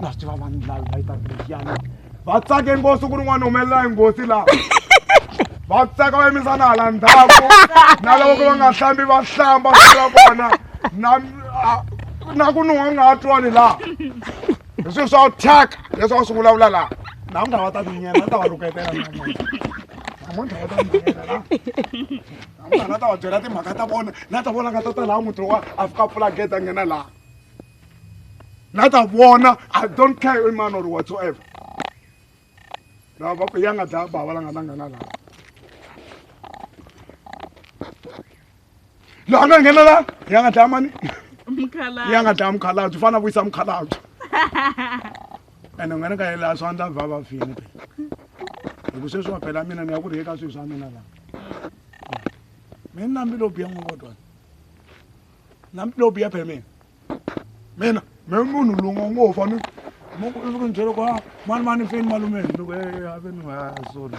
na swi tiva vanhu lavi va yitaka lexiyani va tsake nghozi ku ri n'wana humelela hi nghozi laha va tsaka va yimisa na hala ndzhaku na loko ku va nga hlambi va hlamba swi ra vona na a- na ku nuha nga ha twani laha hi swilo swa thyaka leswi va swi vulavula laha namuntlha va ta tinyela va ta va rhuketela namuntlha namuntlha va ta tinyela laha mara na ta va byela timhaka ta vona na ta vona nga ta ta laha muti wa a fika pfula gate a nghena laha na ta vona i don't care man or whatsoever lava va ku ya nga dlaya bava la nga ta nghena laha laha nga nghena laha ya nga dlaya mani ya nga dlaya mukhalabye u fanele a vuyisa mukhalabye ene u nga ni ka yela swa ndla va va fini phela hi ku sweswi wa phela mina ni ya ku ri eka swilo swa mina lava mina nambi lo biya n'wokotwana nambi lo biya phela mina mina me munhu lungo ngo fa mi mo ku ni byela ku mani mani feni malumeni loko e ave ni ha sorry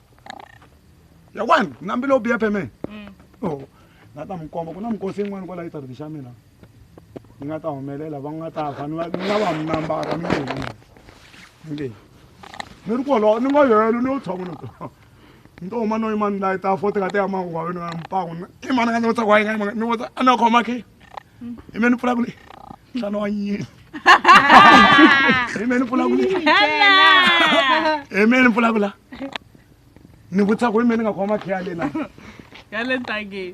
yakwani ku na mbilo biya peme mm. oh, nga ta mi komba ku na mikosi yin'wana kwala yitariti xa mina yi nga ta humelela va nga ta fa ni nga va mi nambara mi nge mi nge ni ri kolowo ni nga yelo ni yo tshama ni ni to huma no yimani layi ta fo ti nga ti ya mangu wa wena mpangu i mani nga ni vutsa ku wa yi nga yimani ni vutsa a ni ya khoma khe imeni pfula kule nhlana wa nyini imeni pfula kule imeni pfula kula ni vutisa ku imeni nga khoma makhiya lena ya le ntangeni